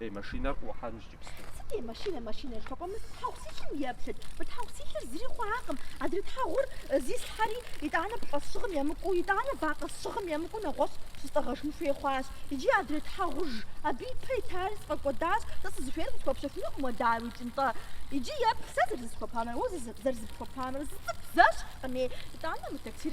Ей, машинэр къыӏухьэнущ джыпсту. Сыт е машинэ, машинэ жыхуэпӏэр? Мы тхьэгъу силъым еплъыт. Мы тхьэгъу силъыр зыри хъуакъым. Адрей тхьэгъур зислъхьэри, итӏанэ пыӏэ сщыгъым емыкӏуу, итӏанэ вакъэ сщыгъым емыкӏуу нэгъуэщӏ щыстӏэгъэжын хуей хъуащ. Иджы адрей тхьэгъужь абы ипэ итари сфӏэкӏуэдащ. Сэ сызыхуейр къысхуэпщэхуфынукъым уэ, дауи, ӏукӏ нтӏэ. Иджы еплъ сэ зэрызысхуэпамрэ уэ зэрызыпхуэпамрэ. Зы цӏыкӏу зэщхькъыми, итӏанэ мы таксир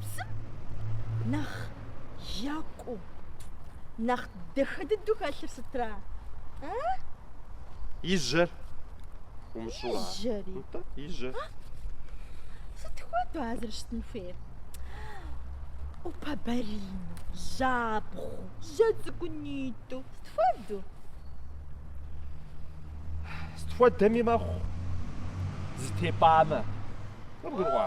псом нэхъ екӏуу, нэхъ дахэ дыдэу хэлъыр сытра? А? И жьэр. Умыщӏэу ара? И жьэри. Нтӏэ, и жьэ. Сыт хуэдэу а зэрыщытын хуейр? ӏупэбарину, жьабгъуэу, жьэ цӏыкӏунитӏу. Сыт хуэдэу? Сыт хуэдэми мэхъу, зэтепӏамэ. Къыбгурыӏуа?